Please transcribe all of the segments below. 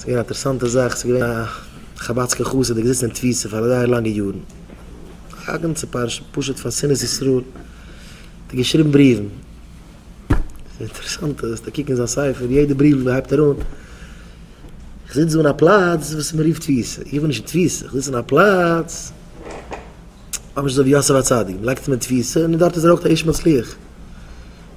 ס'איז געווען א אינטערעסאנטע זאך, ס'איז געווען א חבד'סקע חסיד דער געזיצן אין תפיסה פאר זייער לאנגע יארן, א גאנצע פרשה פשוט פון שנאת ישראל, האט ער געשריבן בריוון, ס'איז אינטערעסאנט אז וועסטו קוקן אין זיין ספר יעדע בריוו וואס ער הייבט אהן, איך זיץ דא אין א פלאץ וואס מען רופט תפיסה, איך בין נישט אין תפיסה, איך זיץ אין א פלאץ ממש אזוי ווי יוסף הצדיק, מען לייגט אים אין תפיסה און דארט איז ער אויך א איש מצליח.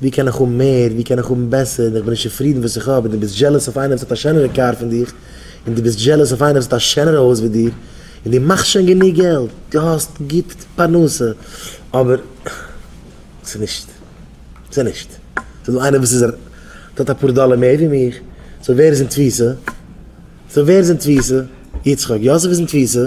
ווי קען איך האבן מער, ווי קען איך האבן בעסער, און איך בין נישט צופרידן וואס איך האב, און דו ביסט זשעלעס אויף איינער וואס האט א שענערע קאר פון דיך, און דו ביסט זשעלעס אויף איינער וואס האט א שענערע הויז ווי דיר, און דו מאכסט שוין גענוג געלט, דו האסט גוט פרנסה, אבער ס'איז נישט, ס'איז נישט, ס'איז דא איינער וואס איז ער האט אפאר דאלער מער ווי מיך, סאו ווער איז אין תפיסה? סאו ווער איז אין תפיסה? יצחק, יוסף איז אין תפיסה.